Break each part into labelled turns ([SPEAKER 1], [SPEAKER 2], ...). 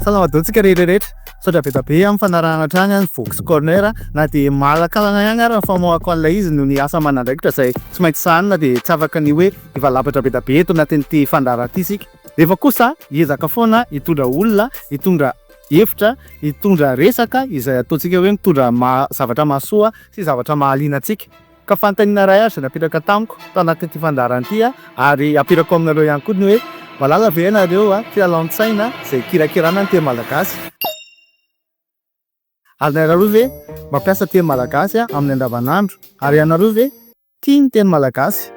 [SPEAKER 1] Salamadontsika rehetra rehetra. Misaotra be dia be amin'ny fanarahana hatrany ny Vox Corner na dia malankalana ihany ary ny famoahako an'ilay izy noho ny asa aman'andraikitra izay tsy maintsy sahanina dia tsy afaka ny hoe hivalapatra be dia be eto anatin'ity fandaharana ity isika. Nefa kosa hiezaka foana hitondra olona, hitondra hevitra, hitondra resaka izay ataontsika hoe mitondra maha zavatra mahasoa sy zavatra mahaliana antsika. Ka fanontaniana iray aza napetraka tamiko tao anatin'ity fandaharana ity ary hapetrako aminareo ihany koa ny hoe, mahalala ve ianareo kilalaon-tsaina izay ikirakirana ny teny malagasy? Ary ianareo ve mampiasa teny malagasy amin'ny andavanandro? Ary ianareo ve tia ny teny malagasy?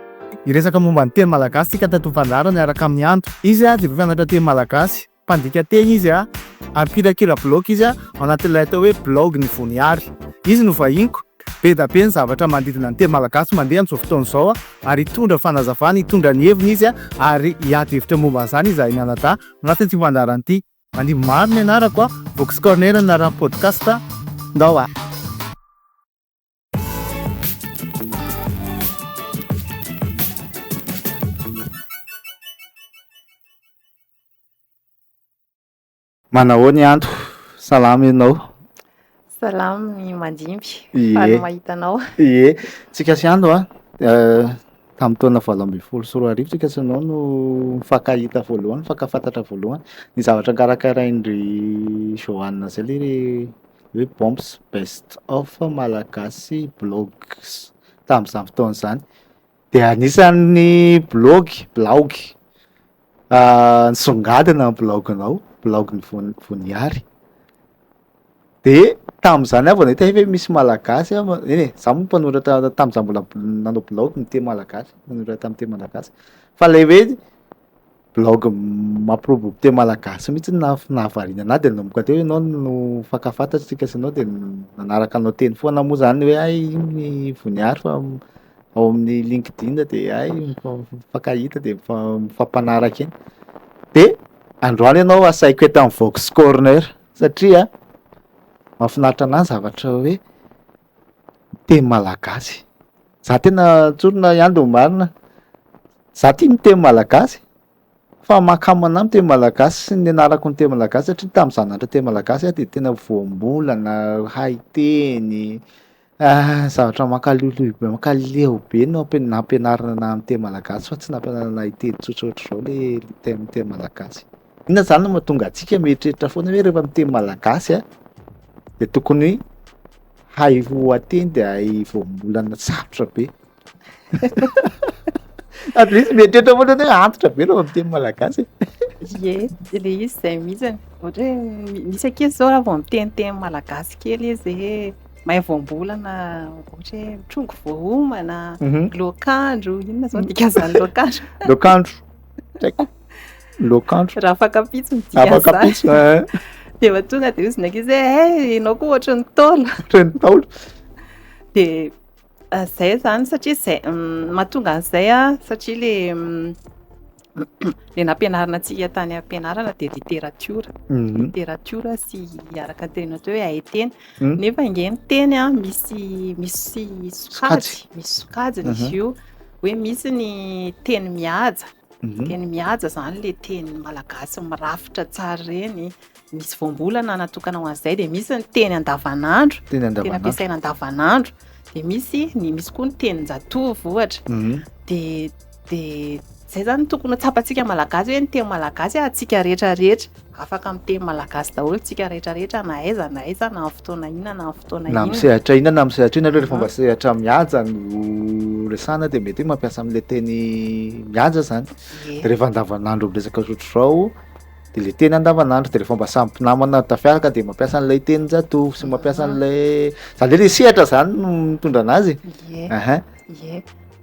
[SPEAKER 1] Hiresaka momba ny teny malagasy isika tato amin'ny fandaharana miaraka amin'i Andry. Izy dia mpampianatra teny malagasy. Mpandika teny izy ary mpirakira bilaogy izy ao anatin'ilay atao hoe Bilaogy ny Voniary. Izy no vahiniko. Be da be ny zavatra manodidina ny teny malagasy mandeha amin'izao fotoana izao ary hitondra fanazavana, hitondra ny heviny izy ary hiady hevitra momba an'izany izahay mianadahy ao anatin'ity fandaharana ity. Manimby maro ny anarako, Vox Corner ny anaran'ny podcast, ndao a! Manahoana i Anto? Salama ianao? Salama
[SPEAKER 2] ny mandimby. Faly mahita
[SPEAKER 1] anao.
[SPEAKER 2] Ie,
[SPEAKER 1] tsika sy Anto a. Eh, tamin'ny taona valo ambin'ny folo sy roa arivo tsika sy anao no mifankahita voalohany, mifankafantatra voalohany. Ny zavatra karakarain'ry Johanna zay le hoe bombs best of malagasy blogs tamin'izany fotoana izany dia anisan'ny blogy blaogy ah, nisongadina ny blaoginao blaogin'ny Von- voniary de tamin'izany aho vao nahita hoe misy malagasy aho ma- eny e za moa mpanoratra tamin'izaho mbola bl- nanao blaogy miteny malagasy nanoratra amin'ny teny malagasy fa ilay hoe blaogy mampiroborobo teny malagasy mihitsy no naha- nahavariana anahy de nanomboka teo ianao no fankafatatsika sy anao de n- nanaraka anao teny foana moa zany hoe hay iny Voniary fa m- ao amin'ny LinkedIn de hay mifa- mifankahita de mifa- mifampanaraka eny, de androany ianao asaiko eto amin'ny Vox Corner satria mahafinaritra anahy ny zavatra hoe teny malagasy. Za tena tsorina ihany de ho marina, za tia ny teny malagasy fa mankamana ny teny malagasy sy ny anarako ny teny malagasy satria tamin'ny za nianatra teny malagasy aho de tena voambolana, hay teny, zavatra mankaloiloy be, mankaleo be no ampi- nampianarina anahy ny teny malagasy fa tsy nampianarina ahy hiteny tsotra ohatr'izao le teny teny malagasy. Inona izany no mahatonga antsika mieritreritra foana hoe rehefa miteny malagasy a, dia tokony hay voateny dia hay voambolana sarotra be. At least mieritreritra foana hoe antitra be rehefa miteny malagasy e. Ye,
[SPEAKER 2] le izy izay mihitsy. Ohatra hoe misy ankizy zao raha vao miteniteny malagasy kely izy hoe mahay voambolana, ohatra hoe mitrongy voahomana, Mhm. loakandro, inona izao ny dikan'izany loakandro? Loakandro.
[SPEAKER 1] Tsy haiko. Loakandro. Raha afakapitso
[SPEAKER 2] ny dia afakapitso eh. Dia va tonga dia ozina ankizy hoe eh, eh ianao koa ohatry ny taolo. Ohatry ny taolo.
[SPEAKER 1] Dia
[SPEAKER 2] ah, zay zany satria zay mm, mahatonga an'izay a ah, satria le mm, le nampianarina antsika tany ampianarana dia literatiora mhm. literatiora sy araka ny teny atao hoe hay teny mhm. nefa inge ny teny a ah, misy misy sokajy misy sokajiny izy mhm. io hoe misy ny teny mihaja Teny mihaja izany ilay teny malagasy mirafitra tsara ireny. Misy voambolana natokana ho an'izay, dia misy ny teny andavanandro, teny ampiasaina andavanandro, dia misy ny misy koa ny tenin-jatovo ohatra. Mhm. Dia dia izay izany tokony ho tsapantsika malagasy hoe ny teny malagasy antsika rehetra rehetra. Afaka miteny malagasy daholo tsika rehetra rehetra na aiza na aiza na am fotoana inona na am fotoana inona. Na am sehatra inona na am sehatra
[SPEAKER 1] inona aloha rehefa mba sehatra mihaja no resahana dia mety hoe mampiasa am le teny mihaja zany de rehefa andavanandro miresaka zotr'izao de le teny andavanandro de rehefa mba samy mpinamana tafiaraka de mampiasa an'ilay tenin-jatovo sy mampiasa an'ilay zany hoe le sehatra zany no mitondra anazy e, ehe.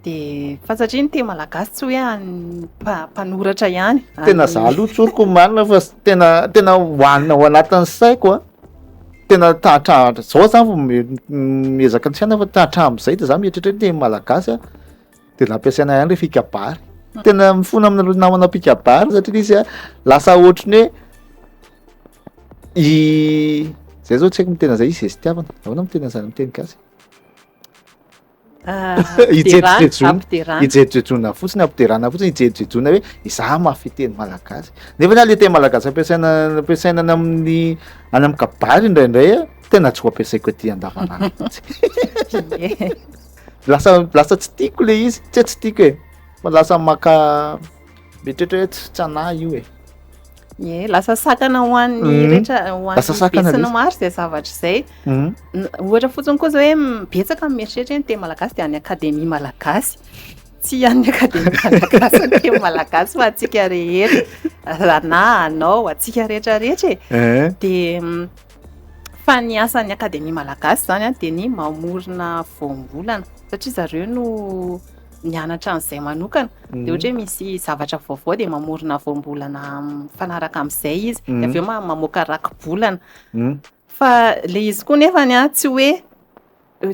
[SPEAKER 2] Dia fantatria ny teny malagasy tsy hoe an'ny mpa- mpanoratra ihany. tena za aloha
[SPEAKER 1] tsoriko omanina fa s- tena tena hoanina ao anatin'ny saiko a tena ta- hatrahatra zao zany vao mi- m- miezaka ny fiainana fa ta- hatramin'izay de za mieritreritra hoe teny malagasy a de nampiasaina ihany le fikabary tena mifona amina le namana mpikabary satria le izy a lasa ohatry ny hoe i- zay zao tsy haiko ny tena zay i zestiavana ahoana mo tena zany amin'ny teny gasy Ampiderana, ijejejona fotsiny, ampiderana fotsiny, ijejejona hoe izaho mahafehy teny malagasy. Nefa na le teny malagasy ampiasaina ampiasaina any amin'ny any amin'ny kabary indraindray a, tena tsy ho ampiasaiko aty andavanandro mihitsy. Lasa lasa tsy tiako le izy, tsy hoe tsy tiako e, fa lasa maka. Mieritreritra hoe tsy tsanahy io e. Ie, lasa sakana
[SPEAKER 2] ho an'ny Mhm. rehetra ho an'ny Lasa sakana be sy ny lesy. maro izay zavatra izay. Mhm. N- Ohatra fotsiny koa izao hoe m- betsaka ny mieritreritra hoe ny teny malagasy dia any akademia malagasy. Tsy an'ny akademia malagasy ny teny malagasy fa antsika rehetra. Ranaha, anao, antsika rehetra rehetra e. Eh. Dia mm, Fa ny asan'ny Akademia Malagasy izany dia ny mamorona voambolana satria zareo no nianatra an'izay manokana. Dia ohatra hoe misy zavatra vaovao dia mamorona voambolana mifanaraka amin'izay izy. Dia avy eo mamoaka rakibolana. Fa ilay izy koa nefany tsy hoe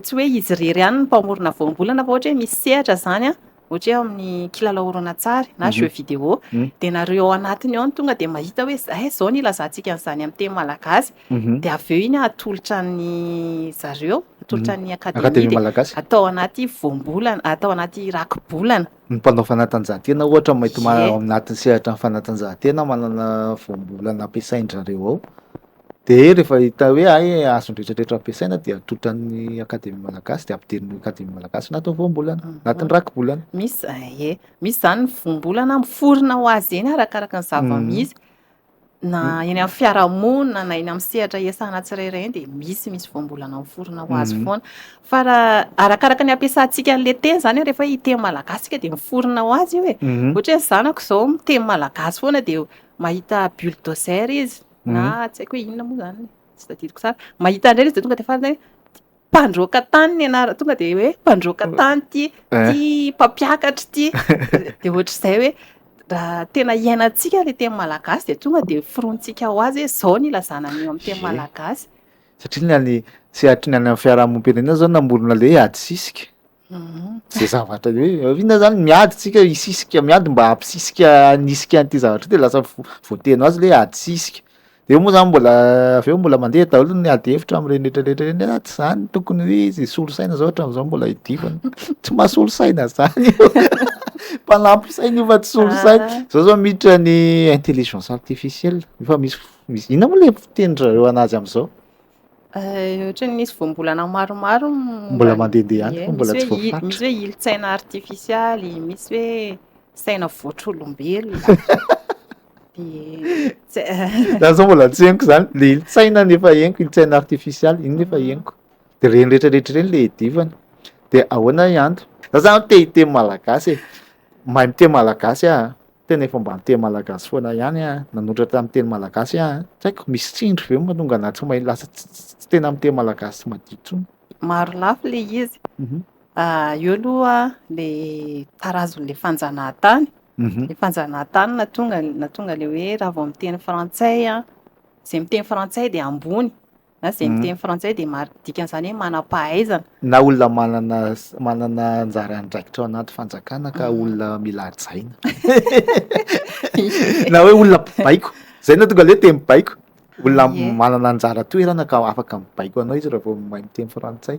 [SPEAKER 2] tsy hoe izy irery ihany ny mpamorona voambolana fa ohatra hoe misy sehatra izany an, ohatra hoe ao amin'ny kilalao horonantsary na jeu vidéo, dia nareo ao anatiny ao no tonga dia mahita hoe izay izao no ilazantsika an'izany amin'ny teny malagasy, dia avy eo iny an atolotra ny zareo, atolotra ny akademia, dia atao anaty voambolana, atao anaty rakibolana. Ny mpanao
[SPEAKER 1] fanatanjahantena ohatra mety ao anatin'ny sehatran'ny fanatanjahantena manana voambolana ampiasain-dry zareo ao. Dia rehefa hita hoe hay azony rehetrarehetra ampiasaina dia atotran'ny Akademia Malagasy dia ampidirin'ny Akademia Malagasy anatin'ny voambolana, ah. anatin'ny rakibolana. Misy eh, eh.
[SPEAKER 2] misy izany ny voambolana miforona ho azy eny arakaraka ny zava-misy. Mm. Na mm. eny amin'ny fiarahamonina na eny amin'ny sehatra iasana tsirairay dia misy misy voambolana miforona ho azy mm. foana. Fa raha arakaraka ny ampiasantsika an'ilay teny izany hoe rehefa hiteny malagasy tsika dia miforona ho azy io e. Mm-hmm. Ohatra hoe ny zanako izao miteny malagasy foana dia mahita bulldozer izy. na tsy haiko hoe inona moa izany e, tsy tadidiko tsara. Mahita indray izy dia tonga dia farany hoe mpandroaka tany ny anarana, tonga dia hoe mpandroaka tany ity, eh. ity mpampiakatra ity. Dia ohatr'izay hoe raha tena iainantsika ilay teny malagasy dia tonga dia firontsika ho azy hoe izao ny ilazana an'io amin'ny teny malagasy. Satria ny any
[SPEAKER 1] sehatry ny any amin'ny fiarahamonimpirenena izao namorona ilay hoe adisisika. Zay zavatra hoe inona zany miady tsika hisisika miady mba hampisisika hanisika an'ity zavatra ity de lasa vo- voateny ho azy le hoe ady sisika. De eo moa zany mbola avy eo mbola mandeha daholo ny ady hevitra am'reny retraretra reny hoe ah tsy zany tokony hoe izy hisolo saina zao hatram'zao mbola hidivany. Tsy mahasolo saina zany io. Mpanampy saina io fa tsy solo saina. Ah. Zao zao miditra ny intelligence artificielle, efa misy f- misy inona moa le fiteny zareo anazy am'zao? Ohatra
[SPEAKER 2] ny misy voambolana maromaro mbola mandehandeha
[SPEAKER 1] any fa mbola tsy voafaritra. Misy hoe ilin-tsaina
[SPEAKER 2] artifisialy, misy hoe saina voatr'olombelona.
[SPEAKER 1] Za zao mbola tsy henoko zany, le ilin-tsaina nefa henoko, ilin-tsaina artifisialy, iny nefa mm. henoko. De reny rehetra rehetra reny le edivany. De ahoana i Ando? Za zany te hiteny malagasy e. Mahay miteny malagasy ah. Tena efa mba niteny malagasy foana ihany a, nanoratra amin'ny teny malagasy a. Tsy haiko, misy tsindry ve mahatonga anà tsy mahay lasa tsy tena miteny malagasy tsy madio intsony? Marolafy
[SPEAKER 2] ilay izy. Eo aloha ilay tarazon'ilay fanjanahantany. Ilay fanjanahantany nahatonga nahatonga ilay hoe raha vao miteny frantsay, izay miteny frantsay dia ambony, na izay miteny frantsay dia marika dikan'izany hoe manam-pahaizana. Na olona manana
[SPEAKER 1] manana anjara andraikitra ao anaty fanjakana ka olona mila hajaina. Na hoe olona mpibaiko, izay no tonga leha teny baiko. Olona manana anjara toerana ka afaka mibaiko anao izy raha vao mahay miteny frantsay.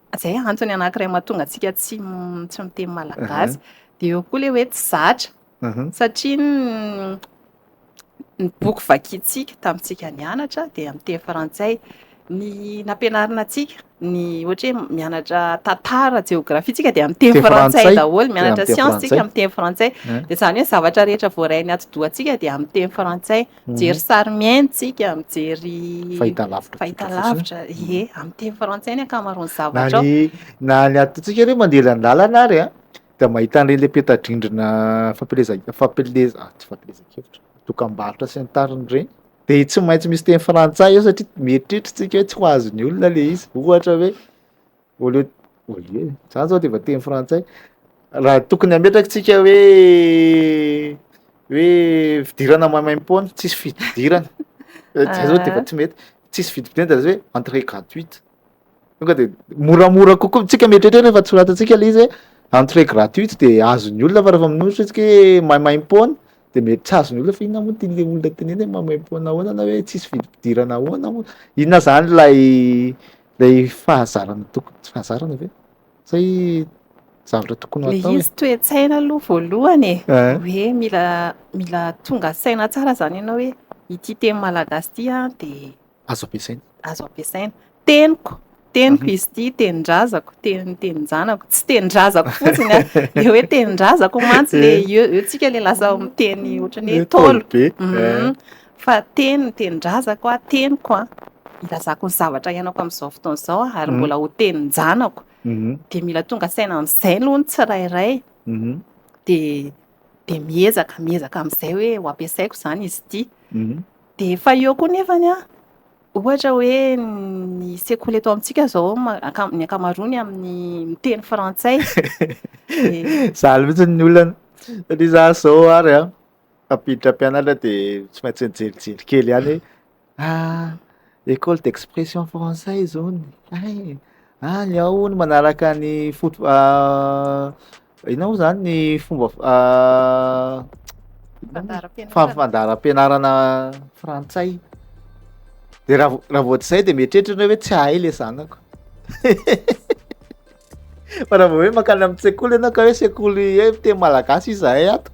[SPEAKER 2] Izay antony anankiray mahatonga antsika tsy tsy miteny malagasy. Dia eo koa ilay hoe tsy zatra. Satria ny ny boky vakintsika tamintsika nianatra dia amin'ny teny frantsay. Ny nampianarina antsika ny ohatra hoe mianatra tantara, jeografia tsika dia amin'ny teny frantsay daholo, mianatra siansa tsika amin'ny teny frantsay. Dia izany hoe zavatra rehetra voarain'ny atidohantsika dia amin'ny teny frantsay. Mijery sary mihaino tsika, mijery fahitalavitra, fahitalavitra, ie, amin'ny teny frantsay ny ankamaroan'ny zavatra. Na ny
[SPEAKER 1] atontsika aloha mandeha ilany lalana ary a, dia mahita an'ireny le peta-drindrina fampieleza, fampieleza, ah, tsy fampielezan-kevitra, dokam-barotra sy ny tariny ireny, de tsy maintsy misy teny frantsay eo satria mieritreritra tsika hoe tsy ho azon'ny olona le izy, ohatra hoe. Au lieu au lieu e, za zao de efa teny frantsay, raha tokony hametraka tsika hoe hoe fidirana maimaim-poana, tsisy fididirana, zay zao de efa tsy mety, tsisy vidim-pidirana de lasa hoe entrée gratuite, tonga de moramora kokoa, tsika mieritreritra hoe rehefa tsy soratantsika le izy hoe entrée gratuite de azon'ny olona fa rehefa minositra tsika hoe maimaim-poana de mety tsy azon'ny olona fa inona moa ty le olona teneniny hoe maimaim-poana ahoana na hoe tsisy vidim-pidirana ahoana moa, inona zany lay Ilay fahazarana tokony, tsy fahazarana ve? Sa i zavatra tokony hatao e? Ilay izy toe-tsaina
[SPEAKER 2] aloha voalohany e, hoe mila mila tonga saina tsara izany ianao hoe ity teny malagasy ity an dia azo ampiasaina,
[SPEAKER 1] azo ampiasaina,
[SPEAKER 2] teniko, teniko izy ity, tenin-drazako, teny tenin-janako, tsy tenin-drazako fotsiny an, ilay hoe tenin-drazako mantsy ilay eo eo tsika ilay lasa miteny ohatran'ny hoe ntaolo be,
[SPEAKER 1] fa
[SPEAKER 2] teny ny tenin-drazako, teniko an, ilazako ny zavatra iainako amin'izao fotoana izao aho ary mbola ho tenin-janako, dia mila tonga saina amin'izay aloha ny tsirairay, dia dia miezaka miezaka amin'izay hoe ho ampiasaiko izany izy ity, dia efa eo koa nefany an, ohatra hoe ny sekoly eto amintsika izao ny ankamaroany amin'ny miteny frantsay,
[SPEAKER 1] zah mihitsy ny olana, satria zah zao ary an, Tafiditra mpianatra dia tsy maintsy nijelijely kely ihany hoe ah école d'expression française hono hay e, any ao hono manaraka ny foto inona moa zany ny fomba fandaharam-pianarana frantsay de raha vao tsy zay de mieritreritra enao hoe tsy hahay le zanako. Fa raha vao hoe mankany amin'ny sekoly ianao ka hoe sekoly hoe miteny malagasy izahay ato.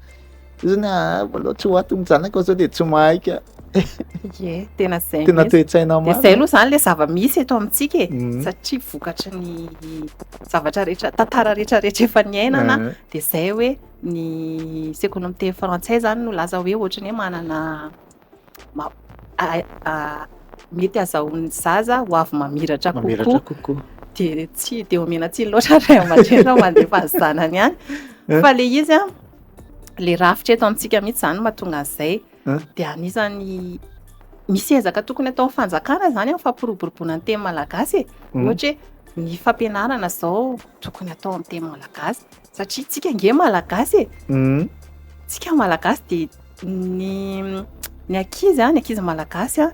[SPEAKER 1] Izany ah mbola tsy ho ato ny zanaka zao dia tsy mahay ka. Ye,
[SPEAKER 2] tena zay. Tena toe-tsaina marina. Dia
[SPEAKER 1] zay aloha zany le
[SPEAKER 2] zava-misy eto amintsika e. Mhm. Satria vokatry ny zavatra rehetra, tantara rehetra rehetra efa niainana, Ah. dia zay hoe ny sekoly miteny frantsay zany no laza hoe ohatry ny hoe manana mety hazahoan'ny zaza ho avy mamiratra kokoa dia tsy dia omena tsiny loatra ray aman-dreny raha mandefa ny zanany any eh? fa le izy a le rafitra eto amintsika mihitsy zany mahatonga an'izay eh? dia anisany misy ezaka tokony ataon'ny fanjakana zany a fampiroboroboana ny teny malagasy e hmm. ohatra hoe ny fampianarana zao tokony atao amin'ny teny malagasy Satria tsika nge malagasy e. Hum. Tsika malagasy dia ny ny ankizy a, ny ankizy malagasy a,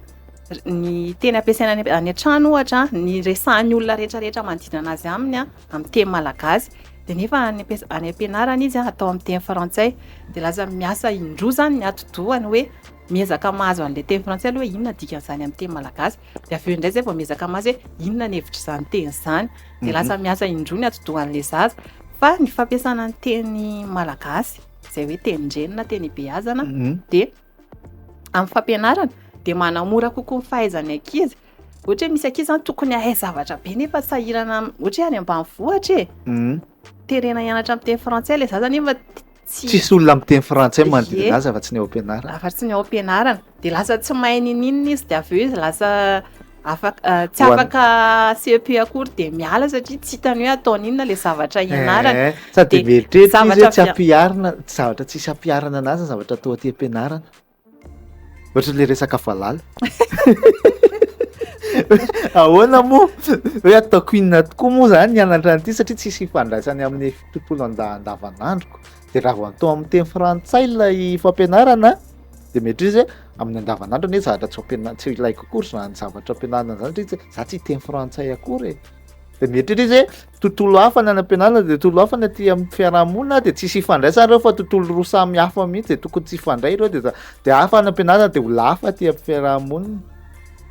[SPEAKER 2] r- ny teny ampiasaina any any an-trano ohatra a, ny resahan'ny olona rehetrarehetra manodidina anazy aminy a, amin'ny teny malagasy. Dia nefa any ampias- any am-pianarana izy a, atao amin'ny teny frantsay. Dia lasa miasa indroa izany ny atidohany hoe miezaka mahazo an'ilay teny frantsay aloha hoe inona dikan'izany amin'ny teny malagasy. Dia avy eo indray izay vao miezaka mazy hoe inona ny hevitr'izany teny izany. Dia mhm. lasa miasa indroa ny atidohan'ilay zaza. Fa ny fampiasana ny teny malagasy, izay hoe teny ndreny na teny ibeazana, mhm. dia amin'ny fampianarana dia manamora kokoa ny fahaizan'ny ankizy ohatra hoe misy ankizy zany tokony hahay zavatra be nefa sahirana ohatra hoe any ambanivohitra e mhm. terena hianatra amin'ny teny frantsay le zaza nefa Tsisy olona
[SPEAKER 1] miteny frantsay manodidina azy afa-tsy ny ao am-pianarana. Afa-tsy ny ao am-pianarana.
[SPEAKER 2] Dia lasa tsy mahay n'inon'inona izy, dia avy eo izy lasa afaka tsy afaka CEP akory dia miala satria tsy hitany hoe ataony inona ilay zavatra ianarany. Sady mieritreritra
[SPEAKER 1] izy hoe tsy ampiharina, zavatra tsisy ampiharina an'azy ny zavatra toa aty am-pianarana. Ohatra le resaka valala. Ahoana moa hoe ataoko inona tokoa moa zany ny anatra an'ity satria tsisy ifandraisany amin'ny tontolo andavanandroko. De raha vao atao amin'ny teny frantsay ilay fampianarana de mety izy hoe amin'ny andavanandro anie zavatra tsy ampiana- tsy ilaiko akory zany zavatra ampianarina zany satria za tsy teny frantsay akory e. De mety izy hoe. tontolo hafa ny any am-pianarana dia tontolo hafa ny aty amin'ny fiarahamonina dia tsisy ifandraisana ireo fa tontolo roa samy hafa mihitsy dia tokony tsy ifandray ireo dia dia hafa any am-pianarana dia olona hafa aty amin'ny fiarahamonina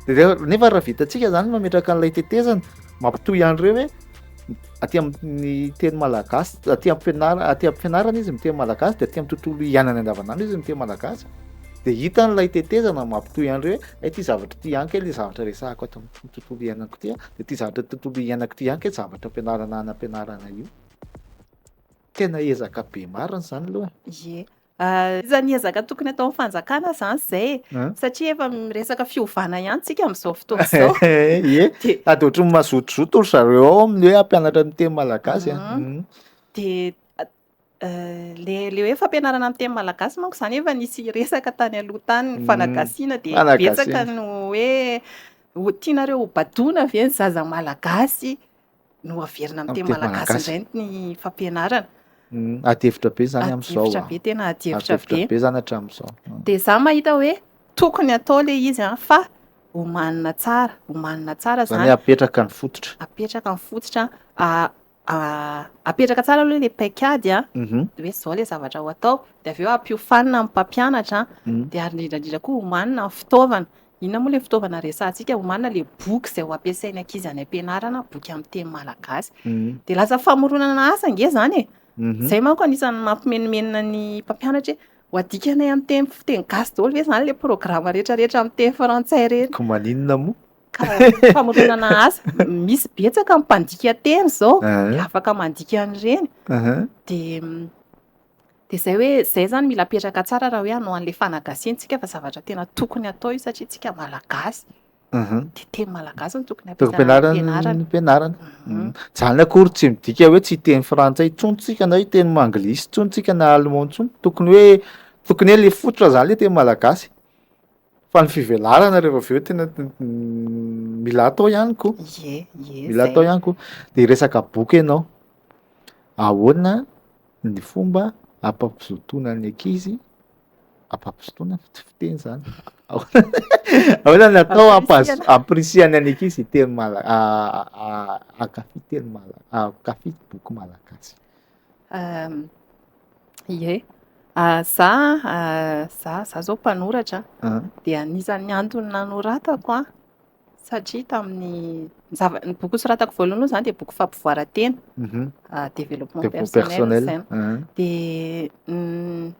[SPEAKER 1] dia nefa raha vitantsika izany mametraka an'ilay tetezana mampitohy an'ireo hoe aty amin'ny teny malagasy aty am-pianarana aty am-pianarana izy miteny malagasy dia aty amin'ny tontolo iainana andavanandro izy miteny malagasy dia hitan'ilay tetezana mampitohy an'ireo hoe ity zavatra ity ihany kay ilay zavatra resahako ato amin'ny tontolo iainako ity de ty zavatra tontolo iainako ty ihany kay zavatra ampianarana any ampianarana io tena ezaka be marina zany aloha ye
[SPEAKER 2] isan'ny ezaka tokony ataon'ny fanjakana zany zay e satria efa miresaka fiovana ihany tsika am'izao fotoana izao ye sady
[SPEAKER 1] ohatran'ny mazotozoto ry zareo ao amin'ny hoe hampianatra ny teny malagasy a de
[SPEAKER 2] le le hoe fampianarana amin'ny teny malagasy manko zany efa nisy resaka tany aloha tany ny mm. fanagasiana de betsaka no hoe ho tianareo ho badoana ve ny zaza malagasy no averina amin'ny teny malagasy indray ny fampianarana mm.
[SPEAKER 1] adihevitra be zany amin'izao adihevitra be tena adihevitra
[SPEAKER 2] be be zany hatramin'izao mm.
[SPEAKER 1] de za mahita
[SPEAKER 2] hoe tokony atao le izy a fa omanina tsara omanina tsara zany apetraka
[SPEAKER 1] ny fototra apetraka ny fototra
[SPEAKER 2] Apetraka tsara aloha ilay paikady a, dia hoe izao ilay zavatra ho atao, dia avy eo ampiofanina amin'ny mpampianatra an, dia ary indrindra indrindra koa omanina ny fitaovana, inona moa ilay fitaovana resahantsika, omanina ilay boky izay ho ampiasain'ny ankizy any am-pianarana, boky amin'ny teny malagasy. Dia lasa famoronana asa ange izany e! Izay manko anisan'ny mampimenomenona ny mpampianatra hoe ho adikanay amin'ny teny gasy daholo ve izany ilay programa rehetrarehetra amin'ny teny frantsay ireny? Koa maninona moa? Famoronana asa, misy betsaka ny mpandika teny izao, dia afaka mandika an'ireny. Dia dia izay hoe, izay izany mila apetraka tsara raha hoe hanao an'ilay fanagasintsika fa zavatra tena tokony atao io satria isika malagasy. Dia teny malagasy no tokony ampianarina.
[SPEAKER 1] Ampianarina. Izany akory tsy midika hoe tsy hiteny frantsay intsony isika na hiteny anglisy intsony isika na allemand intsony. Tokony hoe tokony hoe ilay fototra izany ilay teny malagasy. Fa ny fivelarana rehefa avy eo tena mila atao ihany koa. Ie, ie. Mila atao ihany koa. De resaka boky ianao, ahoana ny fomba ampampizotoana ny ankizy, ampampizotoana ny fiteny izany, ahoana ny atao ampahazo- ampirisihan'ny an'ny ankizy hiteny mala- hankafy teny mala- hankafy boky malagasy. Ie,
[SPEAKER 2] za za za zao mpanoratra de anisan'ny antony nanoratako an, satria tamin'ny zava- ny boky nosoratako voalohany aloha zany de boky fampivoaran-tena, développement Développement personnel, personnel. Ah. de ny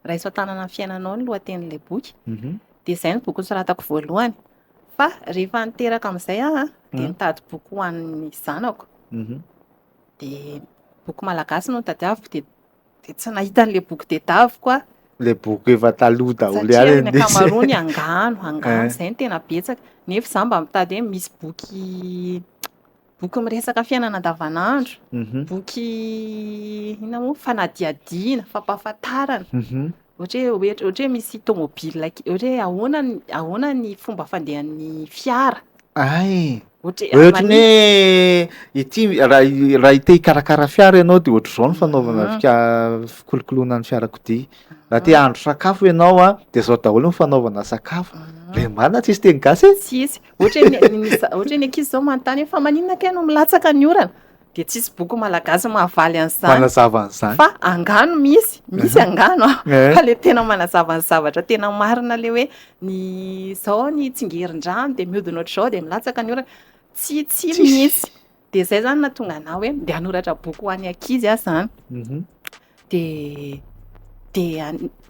[SPEAKER 2] raiso an-tanana ny fiainanao ny lohatenin'ilay boky, Mhm. de zay ny boky nosoratako voalohany, fa rehefa niteraka amin'izay aho an, de nitady boky ho an'ny zanako, Mhm. dia boky malagasy no nitadiaviko dia dia tsy nahita an'ilay boky tedaviko aho. Ilay boky
[SPEAKER 1] efa taloha daholo ihany indrisy. Satria ny ankamaroany
[SPEAKER 2] angano, angano eh. izay no tena betsaka. Nefa izaho mba mitady hoe misy boky boky miresaka fiainana andavanandro, mhm. boky inona moa fanadihadiana, fampahafantarana. Mhm. Ohatra hoe ohatra ohatra hoe misy tômôbila ke- ohatra hoe ahoana ny ahoana ny fomba fandehan'ny fiara. Ay, Ohatra
[SPEAKER 1] hoe ohatry ny mani- hoe ity raha i- raha i te hikarakara fiara ianao de ohatr'izao ny fanaovana Mhm. fika- fikolokoloana ny fiarakodia, raha te hahandro sakafo ianao a de zao daholo ny fanaovana sakafo, Mhm. be marina tsisy teny gasy e! Tsisy. Ohatra hoe ny
[SPEAKER 2] ny za- ohatra hoe ny ankizy zao manontany hoe fa maninona kay no milatsaka ny orana? dia tsisy boky malagasy mahavaly an'izany. Manazava an'izany. Fa
[SPEAKER 1] angano
[SPEAKER 2] misy, misy angano an. Eh. Fa le tena manazava ny zavatra tena marina le hoe ny zao ny tsingerin-drano dia mihodina ohatr'izao dia milatsaka ny orana. Tsy tsy misy. Dia zay zany nahatonga anah hoe ndeha hanoratra boky ho an'ny ankizy aho zany. Mhm. Dia dia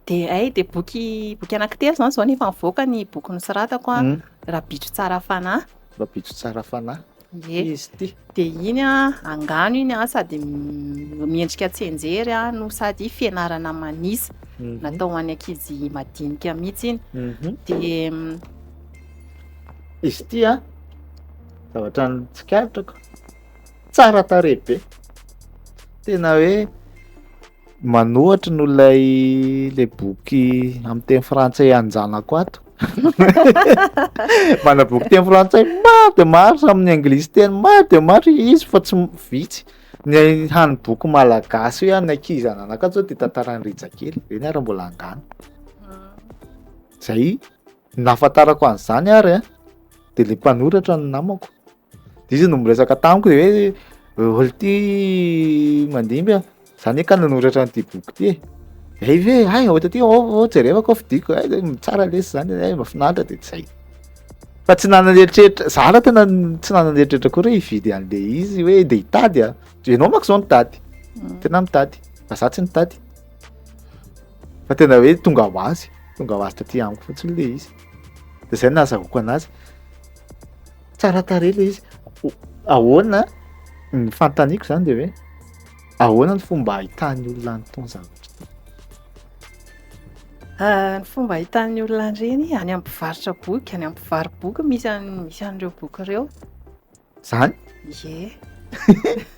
[SPEAKER 2] dia hay dia boky boky anankitelo izany izao no efa nivoaka ny boky nosoratako a, Rabitro tsara fanahy. Rabitro tsara
[SPEAKER 1] fanahy. Ie, Izy ity. dia iny a,
[SPEAKER 2] angano iny a, sady m- miendrika tsianjery a, no sady fianarana manisa, Mhm. natao ho an'ny ankizy madinika mihitsy iny. Mhm. Dia mm,
[SPEAKER 1] Izy ity a, zavatra ny tsikaritako, tsara tarehy be tena hoe manohatry no lay le boky amin'ny teny frantsay anjanako ato mana boky teny frantsay maro de maro sa amin'ny anglisy teny maro de maro izy fa tsy vitsy ny hany boky malagasy hoe any ankizy ananako ato zao de tantaran'ny rijakely reny ary mbola angano hmm. zay nahafantarako an'izany ary a de le mpanoratra ny namako Izy no miresaka tamiko de hoe olty mandimby a, za ne ka nanoratra an'ity boky ty e, hay ve hay ôta ty ô jerevako ao fidiko hay de tsara lesy zany hay mba finaritra de zay, fa tsy nanan'eritreritra za raha tena tsy nanan'eritreritra akory hoe hividy an'le izy hoe de hitady a, enao manko zao nitady, tena mitady fa za tsy nitady, fa tena hoe tonga ho azy tonga ho azy taty amiko fotsiny le izy de zay nahazahoako anazy. tsara tarehy ilay izy ahoana ny fantaniko zany de hoe ahoana ny fomba ahitan'ny olona any tony zavatra
[SPEAKER 2] ah, ny fomba ahitan'ny olona an'ireny any amin'ny mpivarotra boky any amin'ny mpivaro boky misy misy an'ireo boky ireo zany
[SPEAKER 1] ye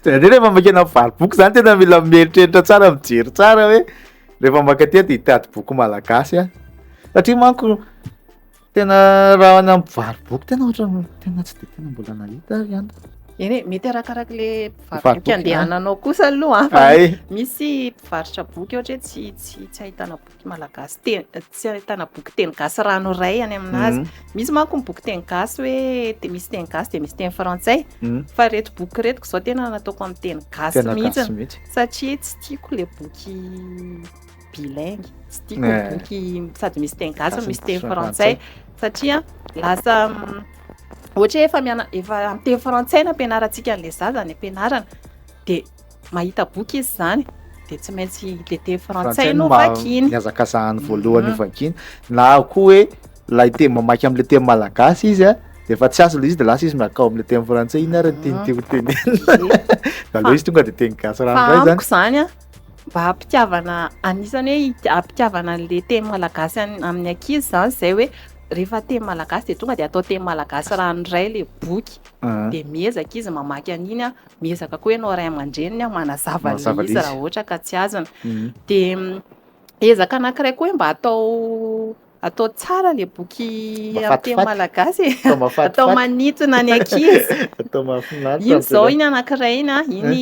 [SPEAKER 1] zany rehefa makena mpivaro boky zany tena mila mieritreritra tsara mijery tsara hoe rehefa makaty de hitady boky malagasy a satria manko Tena raha any amin'ny mpivaro-boky tena ohatran'ny tena tsy dia tena mbola nahita ary ihany. Eny e,
[SPEAKER 2] mety arakaraka le mpivaro-boky andehananao
[SPEAKER 1] kosa
[SPEAKER 2] aloha an. Ay. Misy
[SPEAKER 1] mpivarotra
[SPEAKER 2] boky ohatra hoe tsy tsy tsy ahitana boky malagasy teny tsy ahitana boky teny gasy ranoray any aminazy. Misy manko ny boky teny gasy hoe te- misy teny gasy dia misy teny frantsay. Mm. Fa reto boky reto izao tena nataoko amin'ny teny gasy Tena mihitsy gasy mihitsy.
[SPEAKER 1] satria
[SPEAKER 2] tsy
[SPEAKER 1] tiako
[SPEAKER 2] le boky bilingue tsy tiako ny boky sady misy teny gasy no misy teny frantsay
[SPEAKER 1] satria
[SPEAKER 2] lasa ohatra hoe efa miana efa amin'ny teny frantsay no ampianarantsika an'ilay zaza ny ampianarana dia mahita boky izy izany dia tsy maintsy le teny frantsay no vakiny ny azakazahany voalohany
[SPEAKER 1] mhm. vakiny na koa hoe lay teny mamaky amin'ilay teny malagasy izy a dia efa tsy azy ilay izy dia lasa izy miakao amin'ilay teny frantsay iny ary ny teny mhm. tiako tenenina mhm. aleo izy tonga dia teny gasy ranoray zany amiko izany a
[SPEAKER 2] mba hampitiavana anisany hoe hampitiavana an'le teny malagasy amin'ny ankizy izany izay hoe rehefa teny malagasy dia tonga dia atao teny malagasy ranoiray ilay boky dia miezaka izy mamaky an'iny an, miezaka koa ianao ray aman-dreniny an manazava an'ilay izy raha ohatra ka tsy azony dia ezaka anankiray koa hoe mba atao Atao tsara le boky amin'ny teny malagasy e, atao manintona ny ankizy. Atao mahafinaritra.
[SPEAKER 1] Iny izao iny anankiray
[SPEAKER 2] iny, iny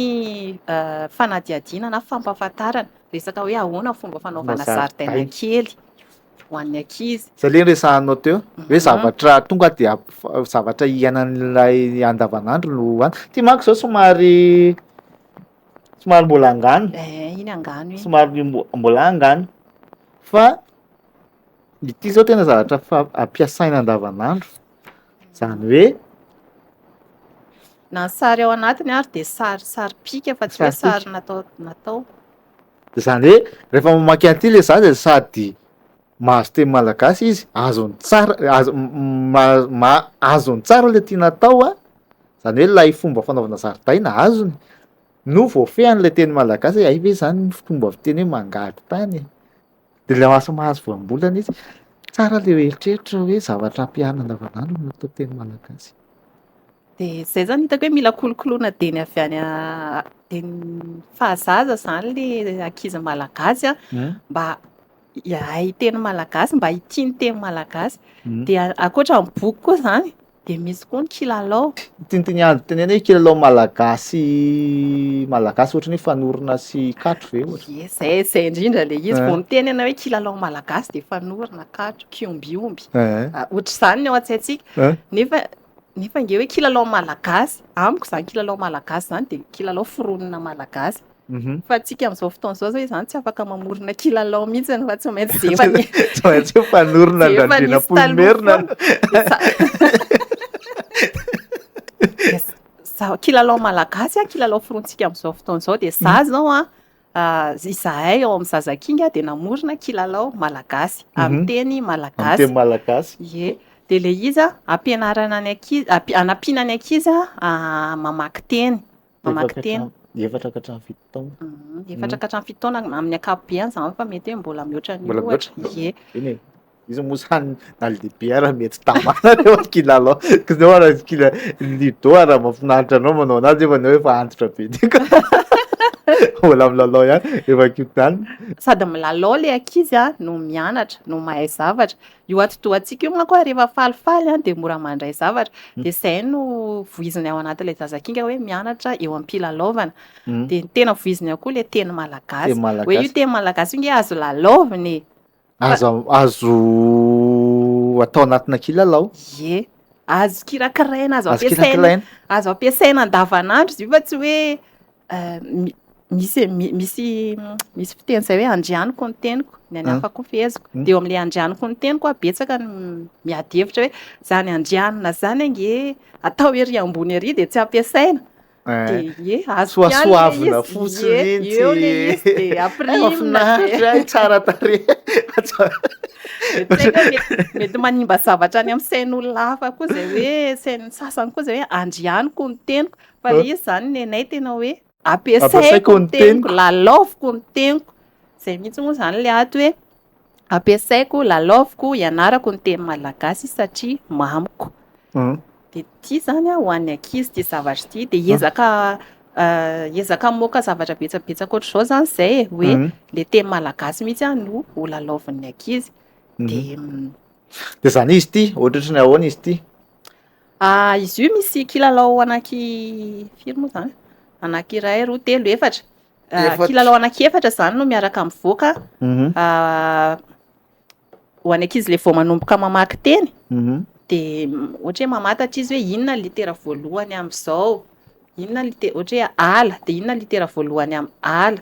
[SPEAKER 2] fanadihadiana na fampahafantarana resaka hoe ahoana fomba fanaovana zaridaina kely ho an'ny ankizy. Izay le resahanao
[SPEAKER 1] teo hoe zavatra tonga dia zavatra iainan'ilay andavanandro no hoany. Ity manko izao somary somary mbola angano. Eh, iny angano iny.
[SPEAKER 2] Somary mbola
[SPEAKER 1] angano fa. Ity izao tena zavatra fa- ampiasaina andavanandro, izany hoe. Na ny
[SPEAKER 2] sary ao anatiny ary dia sary sary pika fa tsy hoe Sary pika. sary natao natao. Izany
[SPEAKER 1] hoe rehefa mamaky an'ity ilay zaza dia sady mahazo teny malagasy izy, azony tsara, azo- m- m- ma- ma- azony tsara ilay tiana atao an, izany hoe ilay fomba fanaovana zaridaina azony, no voafehin'ilay teny malagasy hoe hay ve izany ny fomba fiteny hoe mangady tany e? De le lasa mahazo voambolana izy, tsara le eritreritro hoe zavatra ampiana andavanandro no atao teny malagasy. De
[SPEAKER 2] zay zany hitako hoe mila kolokoloina dieny avy any a- dieny fahazaza zany le ankizy malagasy a, Hein? mba hahay teny malagasy, mba hitia ny teny malagasy. Mm. Dia ankoatra ny boky koa zany, Dia misy koa ny kilalao. Tintin-andro itenena
[SPEAKER 1] hoe kilalao malagasy malagasy ohatra ny hoe fanorona sy katro ve ohatra? Ie, zay, zay indrindra le izy.
[SPEAKER 2] Vao miteny ianao hoe kilalao malagasy dia fanorona, katro, kiombiomby. Ohatr'izany ny ao an-tsaintsika. Nefa nefa ange hoe kilalao malagasy, amiko izany kilalao malagasy izany dia kilalao foronina malagasy. Fa antsika amin'izao fotoana izao izao izany tsy afaka mamorona kilalao mihitsy fa tsy maintsy zefa ny tsy maintsy
[SPEAKER 1] fanorona andranjena polimerina
[SPEAKER 2] za kilalao malagasy a kilalao forontsika amin'izao fotoana izao dia za izao a ah, izahay ao amin'ny zazakinga dia namorona kilalao malagasy mhm. amin'ny teny malagasy teny malagasy ye
[SPEAKER 1] dia le
[SPEAKER 2] iza ampianarana ny ankizy anampiana ny ankizy ah, mamaky teny mamaky teny. Efatra ka hatramin'ny fito
[SPEAKER 1] taona. Efatra ka hatramin'ny
[SPEAKER 2] fito taona amin'ny ankapobeany zany fa mety hoe mbola mihoatra an'io. Mbola mihoatra. Ie. Eny e. Izy
[SPEAKER 1] moa zany na le biara mety tamana le ohatry kila alao. Kizao ara kila lido ara mafinaritra anao manao anazy efa anao efa antitra be dika. Mbola milalao ihany efa kintana. Sady milalao
[SPEAKER 2] le ankizy no mianatra no mahay zavatra. Io atidohantsika io manko rehefa falifaly dia mora mandray zavatra. Mm. Dia izay no voiziny ao anatin'ilay zazakinga hoe mianatra eo am-pilalaovana. Mm. Dia ny tena voiziny ao koa ilay teny malagasy. Hoe io teny malagasy io nge azo lalaovina e. Azo,
[SPEAKER 1] azo atao anatina kilalao. Ie.
[SPEAKER 2] Azo kirakiraina, azo ampiasaina. Azo ampiasaina andavanandro izy io fa tsy hoe Ehm, misy misy misy fiteny izay hoe andrianiko ny teniko ny any hafa koa feheziko hmm. dia eo amin'ilay andrianiko ny teniko a betsaka ny miady hevitra hoe zany andrianina zany ange atao ery ambony ery dia tsy ampiasaina eh. dia ye azo soasoavina fotsiny
[SPEAKER 1] eo le izy
[SPEAKER 2] dia afirimina eh, tsara tare mety manimba zavatra any amin'ny sain'olona hafa koa zay hoe sain'ny sasany koa zay hoe andrianiko ny teniko Fa le izy zany nenay tena hoe ampiasaiko ny teniko, lalaoviko ny teniko. Zay mihitsy moa zany le ato hoe ampiasaiko, lalaoviko, ianarako ny teny malagasy satria mamiko. Hmm. De ty zany ho an'ny ankizy ty zavatra ty de ezaka eh, ezaka moka zavatra betsabetsaka ohatr'izao zany zay e hoe hmm. le teny malagasy mihitsy a no ho lalaovin'ny ankizy. Hmm.
[SPEAKER 1] De de zany
[SPEAKER 2] izy ty,
[SPEAKER 1] ohatrotry ny ahoana izy ty? Ah,
[SPEAKER 2] izy io misy kilalao anaky firy moa zany? Anaky iray, roa, telo, efatra. Ah, Efatra. kilalao anaky efatra zany no miaraka mivoaka Mhm, ah, ho any ankizy le vao manomboka mamaky teny mhm. de mm, ohatra hoe mamatatra izy hoe inona ny litera voalohany amin'izao, inona ny lite- ohatra hoe ala de inona ny litera voalohany amin'ny ala.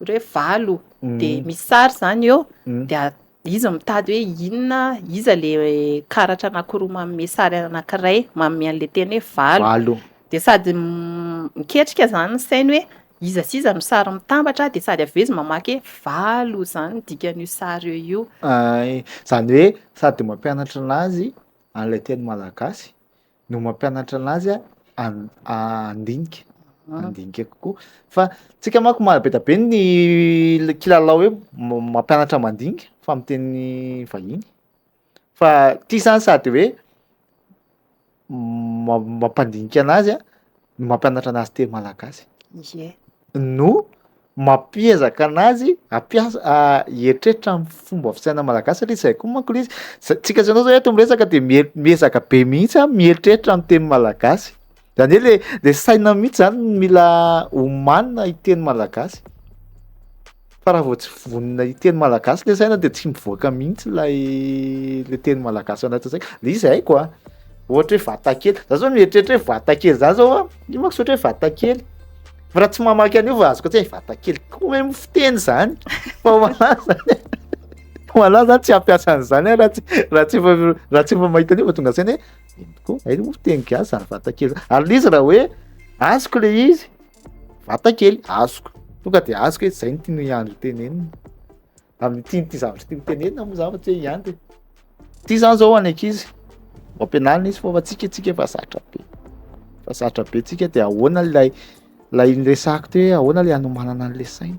[SPEAKER 2] hoe valo de misy sary zany eo de izy mitady hoe inona iza le karatra anakiroa manome sary anakiray manome an'le teny hoe valo de sady miketrika zany ny sainy hoe iza sy iza no sary mitambatra de sady avy eo izy mamaky hoe valo zany ny dikan'io sary eo io zany
[SPEAKER 1] hoe sady mampianatra anazy an'le teny malagasy no mampianatra anazy a an- handinika Ah. handinika kokoa fa tsika manko ma- be da be ny l- kilalao hoe ma- mampianatra mandinika fa amin'ny teny vahiny fa ty zany sady hoe ma- mampandinika anazy a no mampianatra anazy teny malagasy Ie. no mampiezaka anazy ampiasa a- hieritreritra amin'ny fomba fisainan'ny malagasy satria izay koa manko le izy za- tsika zany zao eto miresaka de mier- miezaka be mihitsy a mieritreritra ny teny malagasy zany hoe le le saina mihitsy zany no mila omanina hiteny malagasy fa raha vao tsy vonona hiteny malagasy le saina de tsy mivoaka mihitsy lay le teny malagasy ao anatin'ny saiko le izy haiko a ohatra hoe vatakely za zao mieritreritra hoe vatakely za zao a io manko tsy ohatra hoe vatakely Fa raha tsy mamaky an'io fa azoko tsy vata kely koa hoe mo fiteny zany. Fa wala zany. Wala zany tsy hampiasa an'izany eh, raha tsy raha tsy efa raha tsy efa mahita an'io fa tonga saina hoe ino tokoa? Hay mo fiteny gasy zany vata kely. Ary le izy raha hoe azoko le izy vata kely azoko. Tonga de azoko hoe zay no tian'i Andry ho tenenina. amin'ny tian'ity zavatra ity hotenenina moa zany fa tsy hoe ihany de ity zany zao any ankizy ho ampianarina izy fa fa tsika tsika efa zatra be fa zatra be tsika de ahoana lay lay niresako teo hoe ahoana le hanomanana an'le saina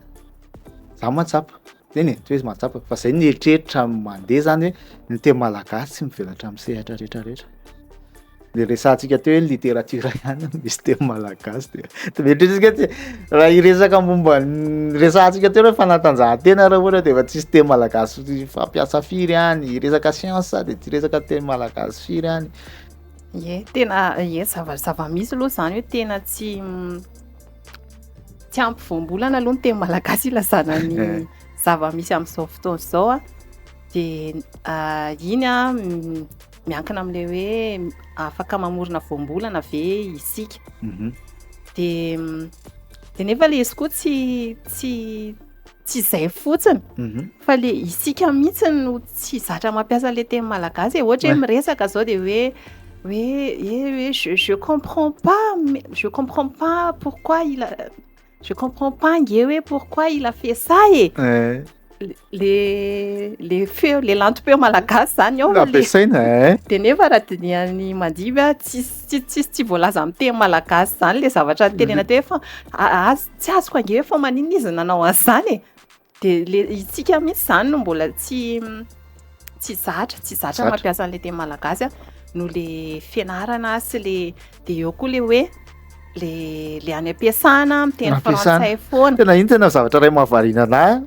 [SPEAKER 1] za mahatsapa teny e toy izy mahatsapa fa zay ny eritreritra mandeha zany hoe ny teny malagasy tsy mivelatra amin'ny sehatra rehetra rehetra le resantsika teo hoe literatiora ihany no misy teny malagasy de tometrisika tsy raha hiresaka momba ny resantsika teo hoe fanatanjahantena raha ohatra de efa tsisy teny malagasy fampiasa firy any hiresaka science de tsy resaka teny malagasy firy any ye tena
[SPEAKER 2] ye zava zava-misy aloha zany hoe tena tsy tsy ampy voambolana aloha ny teny malagasy ilazana ny eh. zava-misy amin'izao fotoana izao a de ah, iny a Miankina amin'ilay hoe afaka mamorona voambolana ve isika. Mhm. Dia dia nefa ilay izy koa tsy tsy tsy izay fotsiny Mhm. fa le isika mihitsy no tsy zatra mampiasa le teny malagasy e ohatra hoe miresaka zao dia hoe hoe e hoe je, je comprends pas mais- je comprends pas pourquoi il a Je comprends pas nge hoe pourquoi il a fait ça e. Eh. Le le feo le lantom-peo malagasy zany ao. Nampiasaina eh. De nefa raha dinihan'ny mandiby a tsisy tsisy tsisy tsy voalaza amin'ny teny malagasy zany le zavatra mhm. tenena teo fa azy tsy azoko ange fa maninona izy nanao an'izany e. De le itsika mihitsy zany no mbola tsy tsy zatra, tsy zatra Zatra. mampiasa an'le teny malagasy a, noho le fianarana sy le de eo koa le hoe le le any am-piasana miteny Ampiasana. frantsay foana. Tena iny tena zavatra iray
[SPEAKER 1] mahavariana anahy a.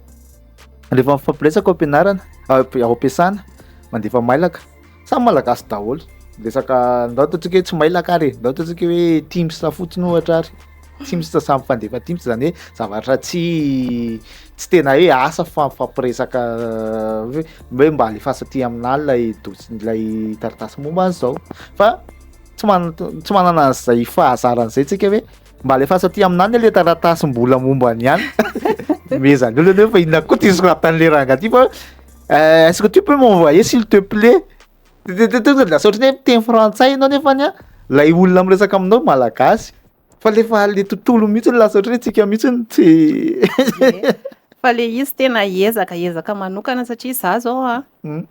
[SPEAKER 1] Rehefa mifampiretsaka ao am-pianarana, ao am-pi- ao am-piasana, mandefa mailaka. Samy malagasy daholo. Resaka ndao ataontsika hoe tsy mailaka ary, ndao ataontsika hoe Teams fotsiny ohatra ary. Teams samy fandefa Teams zany hoe zavatra tsy tsy tena hoe asa fa mifampiresaka hoe hoe mba alefasa aty aminà lay dosi- lay taratasy momba an'zao. Fa tsy man- tsy manana an'zay fahazarana zay tsika hoe Mba alefaso aty aminany le taratasy mbola momba ny any. Mezany olona aloha fa inona koa ty soratan'le ranga ty fa eh, est-ce que tu peux m'envoyer s'il te plaît? De- de- de- de- Lasa ohatry ny hoe miteny frantsay ianao nefa ny a, lay olona miresaka aminao malagasy. Fa le fa le tontolo mihitsy lasa ohatry ny hoe tsika mihitsy no tsy fa le
[SPEAKER 2] izy tena ezaka ezaka manokana satria za zao a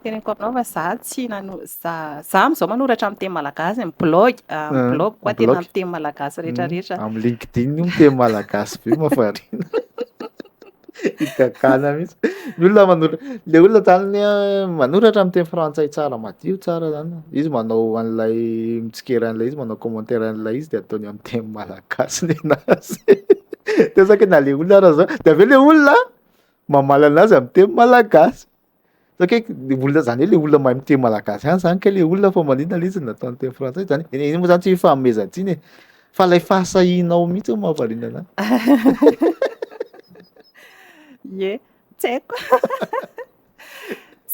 [SPEAKER 2] Teneniko aminao fa za tsy nano- za za am'zao manoratra amin'ny teny malagasy amin'ny blog, amin'ny Ah, blog koa tena blog. amin'ny teny malagasy rehetrarehetra.
[SPEAKER 1] Amin'ny
[SPEAKER 2] LinkedIn
[SPEAKER 1] io miteny malagasy be mafarina. Higagana mihitsy. Ny olona manora le olona zany ny ah, manoratra amin'ny teny frantsay tsara madio tsara zany. Izy manao an'ilay mitsikera an'ilay izy manao commentaire an'ilay izy de ataony amin'ny teny malagasy ny anazy. De zaka na le olona ara zao de avy eo le olona mamaly anazy amin'ny teny malagasy. Sao kay le olona zany le olona mahay miteny malagasy ihany zany kay le olona fa maninona le izy no nataony teny frantsay zany e? Iny moa zany tsy fanomezan-tsiny e, fa lay fahasahianao mihitsy no mahavariana anahy.
[SPEAKER 2] Ie, tsy haiko.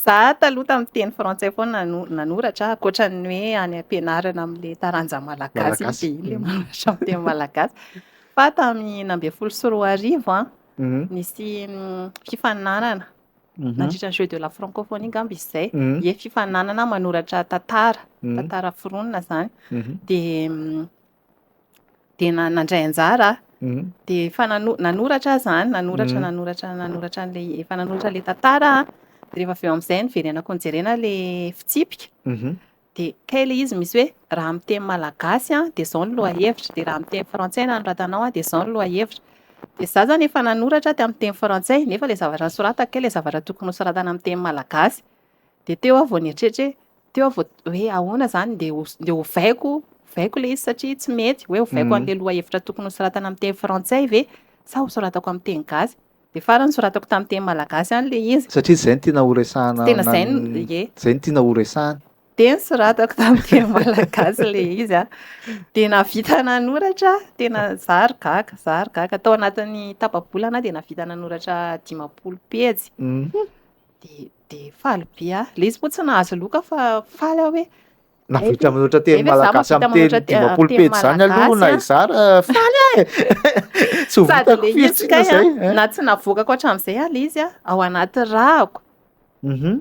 [SPEAKER 2] Za taloha tamin'ny teny frantsay foana no nanoratra, ankoatra ny hoe any am-pianarana amin'ilay taranja malagasy iny Malagasy. dia iny ilay manoratra
[SPEAKER 1] amin'ny
[SPEAKER 2] teny malagasy. Fa tamin'ny enina ambin'ny folo sy roa arivo an, Mhm. nisy mm, fifaninanana nandritra ny Jeux de la Francophonie angamba izy izay, dia fifaninanana manoratra tantara, tantara foronina izany. Dia dia na- nandray anjara aho. Dia efa nano- nanoratra aho izany, nanoratra, nanoratra, nanoratra an'ilay, efa nanoratra ilay tantara aho. Dia rehefa avy eo amin'izay noverenako nojerena ilay fitsipika. de kay ilay izy misy hoe raha amin'ny teny malagasy an de zao ny lohahevitra de raha amin'ny teny frantsay no nanoratanao an de zao ny lohahevitra de za zany efa nanoratra teo amin'ny teny frantsay nefa ilay zavatra nosoratako kay ilay zavatra tokony hosoratana amin'ny teny malagasy de teo aho vao nieritreritra hoe teo aho vao hoe ahoana izany ndeha ho ndeha hovaiko hovaiko ilay izy satria tsy mety hoe hovaiko an'ilay lohahevitra tokony hosoratana amin'ny teny frantsay ve sa hosoratako amin'ny teny gasy Dia farany nosoratako tamin'ny teny malagasy ihany ilay izy. Satria izay no tiana horesahana.
[SPEAKER 1] Tsy tena izay no, ie.
[SPEAKER 2] Izay no tiana horesahana.
[SPEAKER 1] Dia nosoratako
[SPEAKER 2] tamin'ny teny malagasy ilay izy an. Dia nahavita nanoratra, tena izaho ry gaga, izaho ry gaga. Tao anatin'ny tapa-bolana dia nahavita nanoratra dimampolo pejy. Dia dia faly be aho. Ilay izy moa tsy nahazo loka fa faly aho hoe Na Hay vita ve- manoatra hay
[SPEAKER 1] teny ve za malagasy mahavita amin'ny manoatra teny te- dimampolo teny pejy zany aloha malagasy, na an? izara faly aho e. Tsy ho Sady vitako le firy hetsika tsika kay izay. a,
[SPEAKER 2] na
[SPEAKER 1] tsy navoakako
[SPEAKER 2] hatramin'izay aho le izy a, ao anaty rako Mhm.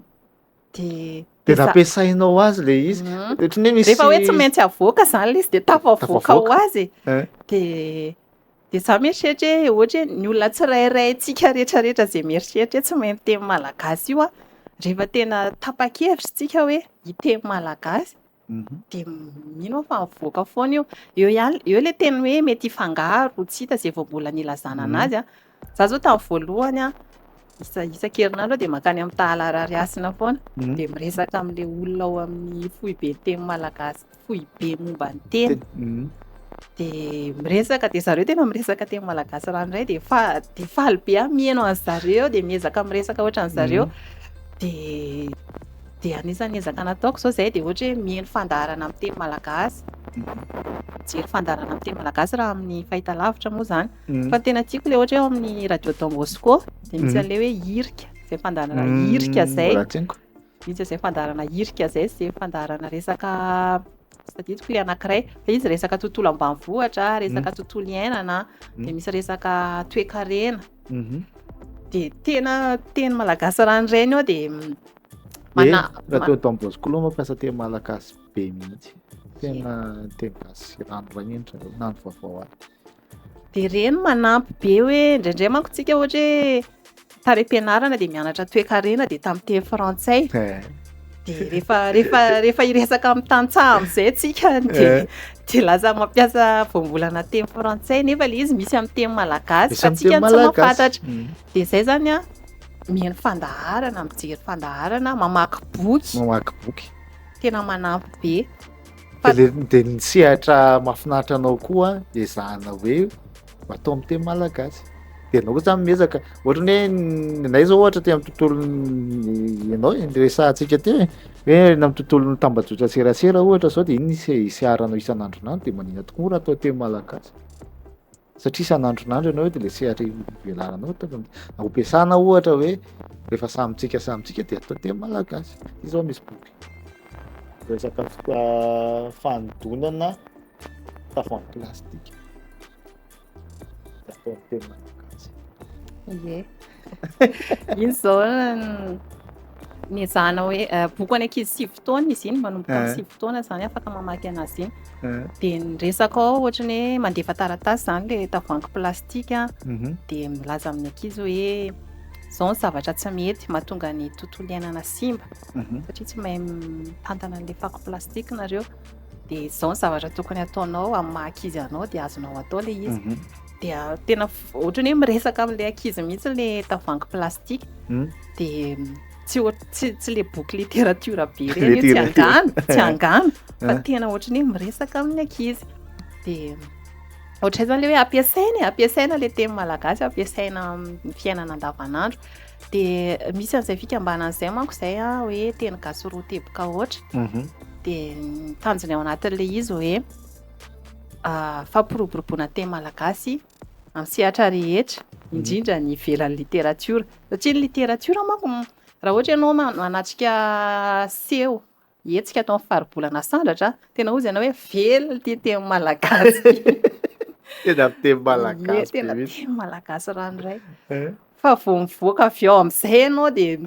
[SPEAKER 2] de
[SPEAKER 1] Dia de za- nampiasainao azy le izy. Mhm. Ohatran'ny hoe misy Rehefa hoe tsy maintsy avoaka
[SPEAKER 2] zany le izy de tafavoaka Tafavoaka. ho azy e. Eh. De Dia za mieritreritra hoe ohatra hoe ny olona tsirairay antsika rehetrarehetra izay mieritreritra hoe tsy mahay miteny malagasy io an, rehefa tena tapa-kevitra isika hoe hiteny malagasy mhm. dia mino aho fa mivoaka foana io. Eo ihany, eo ilay teny hoe mety hifangaro, tsy hita izay vao mbola nilazana mhm. an'azy an. Za zao tamin'ny voalohany an, Izaho isan-kerinandro dia mankany amin'ny Tahala Ararihasina foana, dia miresaka amin'ilay olona ao amin'ny foiben'ny teny malagasy, foibe momba ny teny. Dia miresaka, dia zareo tena miresaka teny malagasy ranoray, dia fa- dia faly be aho mihaino an'i zareo, dia miezaka miresaka ohatran'i zareo. Dia dia anisan'ny ezaka nataoko izao izay dia ohatra hoe mihaino fandaharana amin'ny teny malagasy, mijery fandaharana amin'ny teny malagasy raha amin'ny fahitalavitra moa izany. Fa ny tena tiako le ohatra eo amin'ny radio Don Bosco dia misy an'ilay hoe hirika izay fandaharana hirika izay. Misy izay fandaharana hirika izay izay fandaharana resaka tadidiko ilay anankiray fa izy resaka tontolo ambanivohitra, resaka tontolo iainana dia misy resaka toekarena. Dia tena teny malagasy raha ny reny eo dia mana
[SPEAKER 1] radio Don Bosco aloha moa fa teny malagasy be mihitsy. Tena teny gasy ranoray endrika na ny vaovao aza. Dia ireny
[SPEAKER 2] manampy be hoe indraindray manko tsika ohatra hoe tarepianarana dia mianatra toekarena dia tamin'ny teny frantsay eh. dia rehefa rehefa rehefa iresaka amin'ny tantsaha amin'izay tsika dia eh. dia laza mampiasa voambolana teny frantsay nefa le izy misy amin'ny teny malagasy fa tsika tsy mampatatra mm. dia zay zany a mihaino fandaharana mijery fandaharana mamaky boky mamaky boky tena manampy be Dia ny sehatra
[SPEAKER 1] mahafinaritra anao koa ezahana hoe atao amin'ny teny malagasy. Dia ianao koa zany miezaka. Ohatra ny hoe nay zao ohatra teo amin'ny tontolon'ny ianao e, ny resahantsika teo e. Hoe any amin'ny tontolon'ny tambajotra serasera ohatra zao dia iny no iseharanao isan'andronandro dia maninona tokoa moa raha atao teny malagasy. satria isan'andronandro ianao de le sehatra ivelaranao tokony ampiasana ohatra hoe rehefa samy tsika samy tsika de atao teny malagasy ty zao misy boky resaka ah, fanodonana tavoahangy plastika de atao teny malagasy ye
[SPEAKER 2] Izy izao niezahana hoe eh, boky any ankizy sivy taona izy iny manomboka amin'ny eh. sivy taona izany afaka mamaky anazy iny eh. dia niresaka ao ohatrany hoe mandefa taratasy izany le tavoangy plastika mhm. dia milaza amin'ny ankizy hoe zao ny zavatra tsy mety mahatonga ny tontolo iainana simba mhm. satria tsy mahay mitantana an'la fako plastika nareo dia zao ny zavatra tokony ataonao amin'ny maha anao dia azonao atao le izy mhm. dia tena ohatrany hoe miresaka amin'ilay ankizy mihitsy ilay tavoahangy plastika hmm? dia tsy tsy tsy le boky littérature be ireny tsy angano tsy eh. angano eh. fa tena ohatrany hoe miresaka amin'ny ankizy dia ohatray zany le hoe ampiasaina e ampiasaina le teny malagasy ampiasaina amin'ny fiainana andavanandro dia misy an'izay fikambanana izay manko izay a hoe teny gasy roa teboka ohatra mhm. dia tanjona ao anatin'ilay izy hoe fampiroboroboana teny malagasy amin'ny sehatra rehetra, mhm. indrindra ny ivelan'ny literatiora. Satria ny literatiora manko, raha ohatra ianao manatrika seho, hetsika atao amin'ny faribolana sandratra, tena hoy ianao hoe velona ity teny malagasy.
[SPEAKER 1] Tena teny malagasy. Tena teny malagasy
[SPEAKER 2] ranoray. Eh? Fa vao mivoaka avy ao amin'izay ianao dia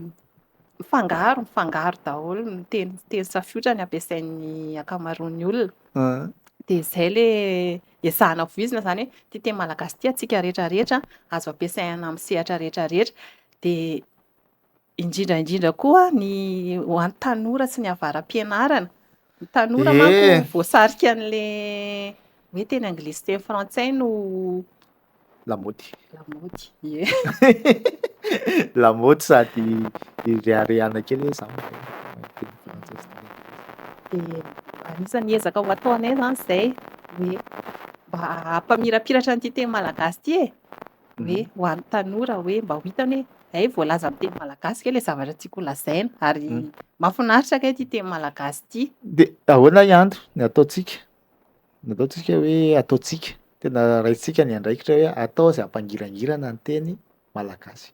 [SPEAKER 2] mifangaro mifangaro daholo ny teny teny safiotra ny ampiasain'ny ankamaroan'ny olona ah. dia izay le ezahana voizina izany hoe ty teny malagasy ty atsika rehetra rehetra azo ampiasaina amin'ny sehatra rehetra rehetra dia indrindra indrindra koa ny ho an'ny tanora sy ny avara-pianarana Ny tanora manko voasarika an'le hoe teny anglisy teny frantsay no
[SPEAKER 1] lamaody. Lamaody.
[SPEAKER 2] Ye.
[SPEAKER 1] lamaody sady ireharehana kely hoe zany. Dia
[SPEAKER 2] anisan'ny ezaka ho ataonay zany izay hoe mba hampamirapiratra an'ity teny malagasy ity e. hoe ho an'ny tanora hoe mba ho hitany hoe hay voalaza amin'ny teny malagasy ve ilay zavatra tiako holazaina ary mm. mahafinaritra kay ity teny malagasy ity. Dia ahoana
[SPEAKER 1] ihany ny ataontsika? Ny ataontsika hoe ataontsika tena raintsika ny andraikitra hoe atao izay hampangirangirana ny teny malagasy.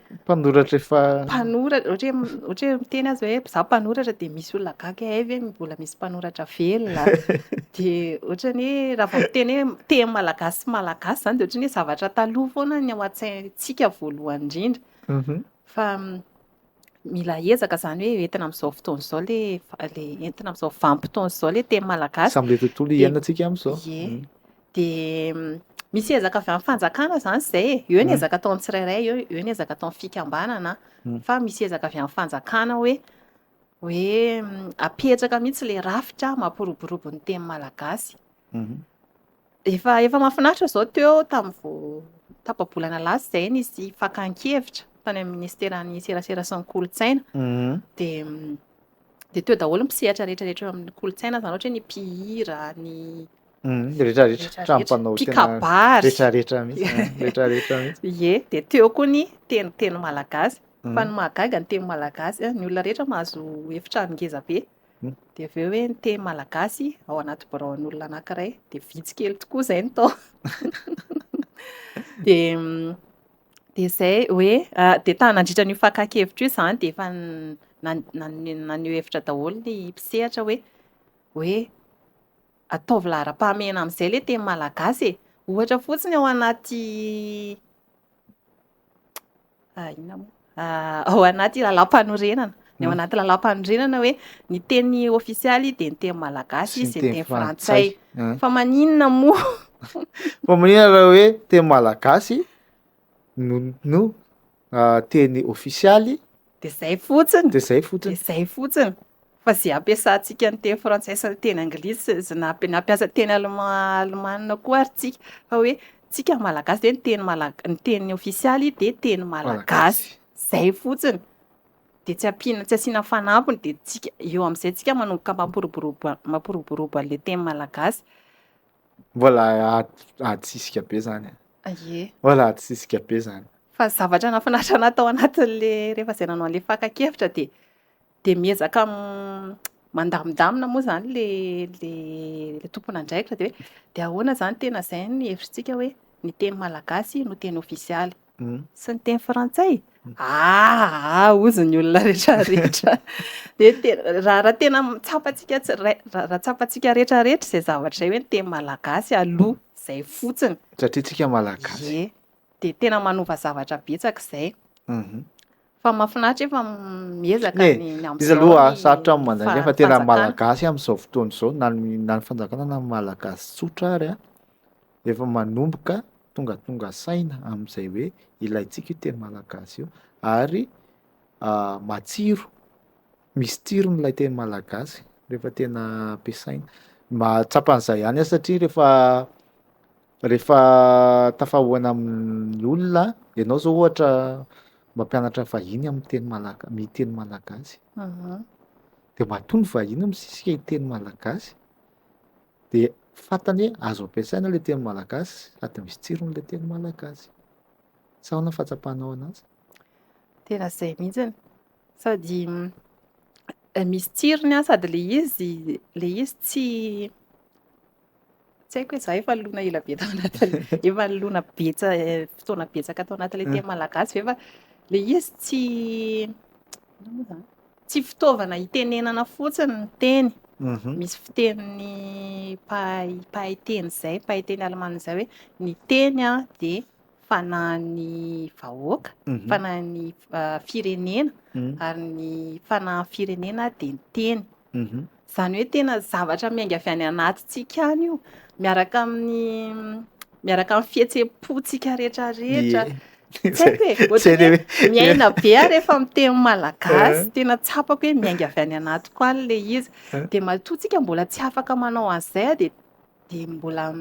[SPEAKER 2] Mpanoratra efa.
[SPEAKER 1] Mpanoratra,
[SPEAKER 2] ohatra hoe ohatra hoe miteny azy hoe za mpanoratra dia misy olona gaga hay ve mbola misy mpanoratra velona. Dia ohatra ny hoe raha vao miteny hoe teny malagasy sy malagasy zany dia ohatra ny hoe zavatra taloha foana ny ao an-tsaintsika voalohany indrindra. Mhm. Fa mm, mila ezaka zany hoe entina amin'izao fotoana izao le le entina amin'izao vanim-potoana izao le teny malagasy. Samy le tontolo Dia- iainantsika
[SPEAKER 1] amin'izao. Ie. Mm. dia
[SPEAKER 2] misy ezaka avy amin'ny fanjakana izany izay e. Eo ny mm. ezaka ataon'ny tsirairay, eo, eo ny ezaka ataon'ny fikambanana, mm. fa misy ezaka avy amin'ny fanjakana hoe hoe mm, apetraka mihitsy ilay rafitra mampiroborobo ny teny malagasy. Mm-hmm. Efa efa mahafinaritra izao teo tamin'ny vao tapa-bolana lasa izay nisy fakan-kevitra tany amin'ny ministeran'ny serasera sy ny kolontsaina. Mm-hmm. Dia dia teo daholo ny mpisehatra rehetrarehetra eo amin'ny kolontsaina izany ohatra hoe ny mpihira, ny Mm, rehetra rehetra tra mpanao tenarehtrarehetra rehetra rehetra ie de teo koa ny teny teny malagasy mm. fa ny mahagaga ny teny malagasy ny olona rehetra mahazo efitra ningeza be mm. de avy eo hoe ny teny malagasy ao anaty biraon'olona anakiray de vitsy kely tokoa zay ny tao de de zay hoe ah, de ta nandritra n'io fakakevitra io zany de efa naneo hevitra daholo ny mpisehatra hoe hoe Ataovy laharam-pahamehana amin'izay ilay teny malagasy e! Ohatra fotsiny ao anaty inona moa? Ao anaty lalàmpanorenana. Ny ao anaty lalàmpanorenana hoe ny teny ofisialy dia ny teny malagasy sy ny teny frantsay. Fa maninona moa? Fa
[SPEAKER 1] maninona raha hoe teny malagasy? no teny ofisialy, dia izay
[SPEAKER 2] fotsiny, dia izay fotsiny, dia izay fotsiny, fa izay ampiasantsika ny teny frantsay sy ny teny anglisy, izay nampiasa teny alemana koa ary tsika, fa hoe tsika malagasy dia ny teny malagasy, ny teny ofisialy dia teny malagasy, izay fotsiny, dia tsy ampiana, tsy asiana fanampiny, dia tsika, eo amin'izay tsika manomboka mampiroborobo, mampiroborobo an'ilay teny malagasy. Mbola
[SPEAKER 1] adin-tsika be izany e. Ye. Voilà, tsy zisika be zany. Fa zavatra nahafinaritra
[SPEAKER 2] anahy tao anatin'le rehefa zay nanao an'le fakan-kevitra dia dia miezaka mandamindamina moa zany le le le tompon'andraikitra dia hoe dia ahoana zany tena zay ny hevitrintsika hoe ny teny malagasy no teny ofisialy sy ny teny frantsay? Aa ozy ny olona retraretra de raha tena tsapantsika raha tsapantsika retraretra izay zavatra izay hoe ny teny malagasy aloha izay fotsiny satria tsika malagasy
[SPEAKER 1] ye
[SPEAKER 2] de tena manova
[SPEAKER 1] zavatra
[SPEAKER 2] betsaka izay
[SPEAKER 1] mhm.
[SPEAKER 2] fa mafinaritra efa miezaka ny amizay
[SPEAKER 1] aloha
[SPEAKER 2] sarotra
[SPEAKER 1] amin'ny
[SPEAKER 2] manjaka fa
[SPEAKER 1] tena malagasy amin'izao
[SPEAKER 2] fotoana
[SPEAKER 1] izao na ny fanjakana na ny malagasy tsotra ary a efa manomboka tongatonga saina amin'izay hoe ilaintsika io teny malagasy io ary matsiro, misy tsirony ilay teny malagasy rehefa tena ampiasaina, mahatsapa an'izay ihany aho satria rehefa rehefa tafahaona amin'ny olona ianao zao ohatra mampianatra vahiny amin'ny teny malaga- ny teny malagasy de matoa ny vahiny misisika hiteny malagasy. De fantany hoe azo ampiasaina ilay teny malagasy sady misy tsirony ilay teny malagasy. Sa ahoana ny fahatsapanao an'azy? Tena
[SPEAKER 2] izay mihitsy. Sady misy tsirony an, sady ilay izy, ilay izy tsy tsy haiko hoe za efa lona ela be tao anatin'ilay efa lona betsa- fotoana betsaka tao anatin'ilay teny malagasy ve fa ilay izy tsy inona moa izany? Tsy fitaovana hitenenana fotsiny ny teny. Misy fitenin'ny mpahay mpahay teny izay, mpahay teny alemana izay hoe ny teny dia fanahin'ny vahoaka, fanahin'ny firenena, ary ny fanahin'ny firenena dia ny teny. Izany hoe tena zavatra miainga avy any anatintsika any io, miaraka amin'ny miaraka amin'ny fihetseham-pontsika rehetrarehetra. Tsy haiko e, ohatran'ny hoe miaina be aho rehefa miteny malagasy, eh. tena tsapako hoe miainga avy any anatiko any ilay izy. Eh. Dia matoa tsika mbola tsy afaka manao an'izay, dia dia mbola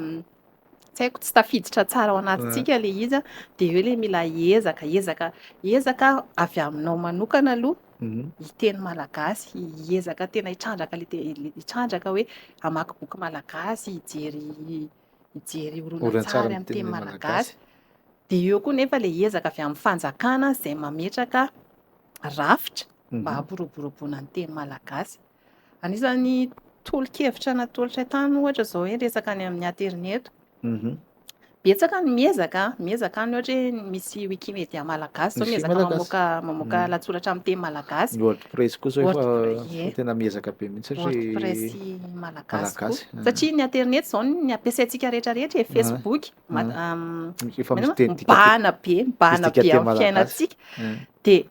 [SPEAKER 2] tsy haiko tsy tafiditra tsara ao anatintsika ilay izy dia eo ilay mila ezaka ezaka ezaka avy aminao manokana aloha mhm. hiteny malagasy hiezaka tena hitrandraka le hitrandraka hoe hamaky boky malagasy hijery hijery horonantsary amin'ny teny malagasy dia eo koa nefa ilay ezaka avy amin'ny fanjakana izay mametraka rafitra mba mhm. hampiroboroboana ny teny malagasy Anisan'ny tolo-kevitra natolotray tany ohatra izao hoe resaka any amin'ny aterineto. Mhm. Betsaka ny miezaka, miezaka any ohatra hoe misy Wikimedia malagasy zao Misy miezaka malagasy. mamoaka mamoaka Mm. lahatsoratra amin'ny teny malagasy. Ny WordPress
[SPEAKER 1] koa zao
[SPEAKER 2] efa
[SPEAKER 1] WordPress, ie. tena miezaka be mihitsy satria WordPress malagasy
[SPEAKER 2] Malagasy, koa. ah. Satria ny aterineto izao ny ampiasaintsika rehetra rehetra e, Facebook, mat- Ah. am- efa misy maninona? teny dika mibahana be, mibahana dika be teny amin'ny malagasy. fiainantsika. eh, Dia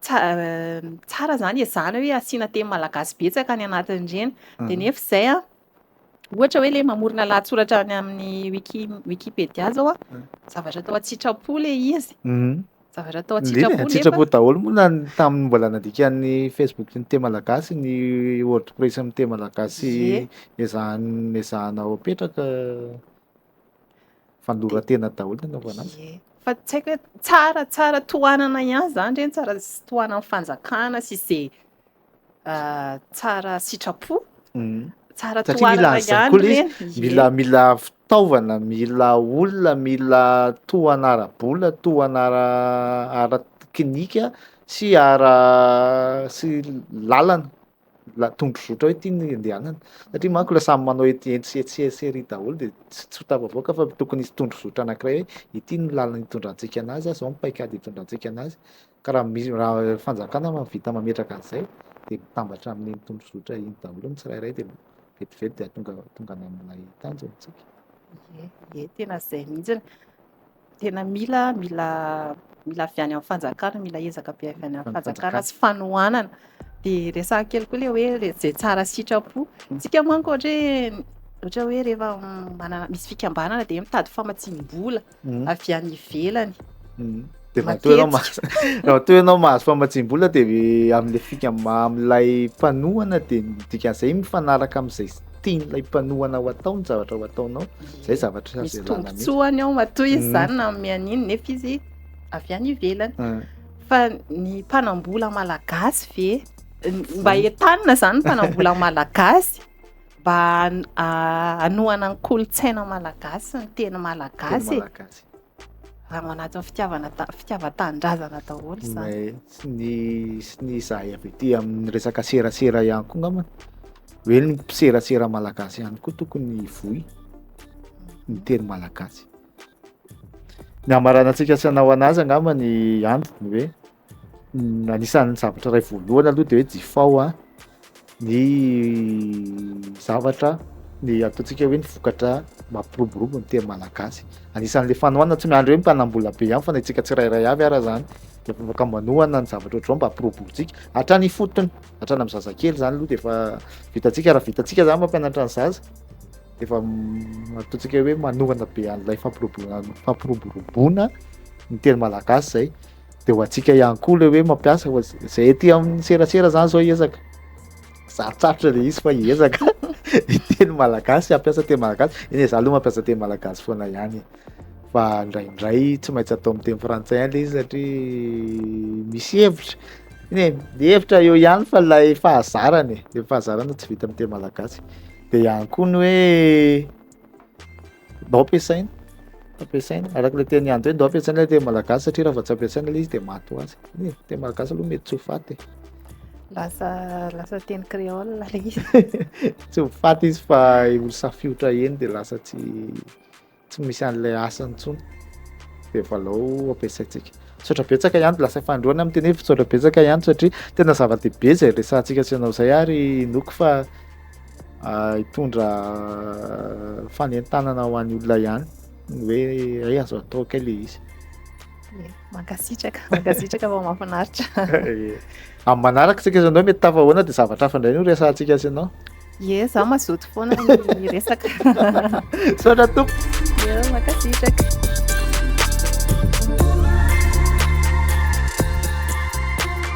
[SPEAKER 2] Tsara izany ezahana hoe asiana teny malagasy betsaka any anatin'ireny. Dia nefa izay an, ohatra hoe ilay mamorona lahatsoratra any amin'ny wiki wikipedia izao an, zavatra atao an-tsitrapo ilay izy. Zavatra atao Ndeha an-tsitrapo nefa an-tsitrapo daholo
[SPEAKER 1] moa na ny tamin'ny mbola nandikan'ny Facebook ny teny malagasy, ny WordPress amin'ny teny malagasy Ie. ezahan- ezahana ho apetraka. Fandorantena daholo ny anaovana azy. Ie. Fa tsy haiko hoe
[SPEAKER 2] tsara tsara tohanana ihany izany re ny tsara s- tohanan'ny fanjakana sy izay ah, tsara sitrapo. Mm. Tsara Satria mila tohanana an'izany ihany koa ilay ireny. izy. Ie. Mila mila fitaovana,
[SPEAKER 1] mila olona, mila tohana ara-bola, tohana ara ara-teknika sy ara sy lalana mila tondrozotra hoe ty ny andehanana satria manko le samy manao ety etsy sy etsy sy ery daholo de tsy tsy ho tafavoaka fa tokony hisy tondrozotra anankiray hoe ity ny lalana hitondrantsika anazy zao ny paikady hitondrantsika anazy ka raha misy raha fanjakana mahavita mametraka an'izay de mitambatra amin'iny tondrozotra iny daholo ny tsirairay de vetivety de atonga tonga any amin'ilay tanjona tsika. Ie, ie
[SPEAKER 2] tena zay mihitsy. Tena mila, mila, mila avy any amin'ny fanjakana, mila ezaka be avy any amin'ny fanjakana sy fanohanana. Dia resahako kely koa ilay hoe izay tsara sitrapo. Isika manko ohatra hoe ohatra hoe rehefa manana misy fikambanana dia mitady famatsiam-bola hmm. avy any ivelany. Hmm. Dia raha
[SPEAKER 1] toa ianao mahazo raha toa ianao mahazo famatsiam-bola dia amin'ilay fika amin'ilay mpanohana dia dikan'izay mifanaraka amin'izay tian'ilay mpanohana ho atao ny zavatra ho ataonao zay zavatra azo ialana mihitsy. Misy tombontsoany
[SPEAKER 2] ao matoa izy izany mm. na amin'ny an'iny nefa izy avy any ivelany. Ah. Fa ny mpanambola malagasy ve mba entanina izany mpanambola malagasy mba ah, hanohana ny kolontsaina malagasy ny teny malagasy. raha manaja fitiavana fitiavan-tanindrazana daholo izany. Sy ny sy
[SPEAKER 1] ny izahay avy ety amin'ny resaka serasera ihany koa ngamba hoe ny mpiserasera malagasy ihany koa tokony hivoy ny teny malagasy. Ny hamaranantsika tsy hanao anazy angamba ny antony hoe anisan'ny zavatra iray voalohany aloha de hoe jifao a ny zavatra ny ataontsika hoe ny vokatra mampiroborobo ny teny malagasy anisan'le fanohanana tsy miandry hoe mpanambola be ihany fa na itsika tsirairay avy ara zany de afaka manohana ny zavatra ohatr'izao mba hampiroborotsika hatrany ifotony hatrany amin'ny zazakely zany aloha de efa vitantsika raha vitantsika zany mampianatra ny zaza de efa ataontsika hoe manohana be an'ilay fampiroboroana fampiroboroboana ny teny malagasy zay de ho antsika ihany koa le hoe mampiasa fa zay aty amin'ny serasera zany zao hiezaka sarotsarotra le izy fa hiezaka hiteny malagasy hampiasa teny malagasy eny za aloha mampiasa teny malagasy foana ihany e fa ndraindray tsy maintsy atao amin'ny teny frantsay ihany le izy satria misy hevitra eny e ny hevitra eo ihany fa lay fahazarana e le fahazarana tsy vita amin'ny teny malagasy de ihany koa ny hoe ndao ampiasaina ampiasaina araka ilay teny andry hoe ndao ampiasaina ilay teny malagasy satria raha vao tsy ampiasaina ilay izy dia maty ho azy e teny malagasy aloha mety tsy ho faty e lasa lasa
[SPEAKER 2] teny créole ilay izy tsy ho
[SPEAKER 1] faty izy fa olo safiotra eny dia lasa tsy tsy misy an'ilay asany intsony dia valao ampiasaintsika misaotra betsaka ihany lasa fandroana amin'ny teny hoe misaotra betsaka ihany satria tena zava-dehibe izay resahantsika sy ianao izay ary inoako fa hitondra fanentanana ho an'ny olona ihany ny hoe ay azo atao kay le izy
[SPEAKER 2] mankasitraka mankasitraka fa mahafinaritra
[SPEAKER 1] amin'ny manaraka tsika zanao mety tafahoana dia zavatra hafa indray no resantsika sy ianao ye za mazoto
[SPEAKER 2] foana ny resaka soatra tompo mankasitraka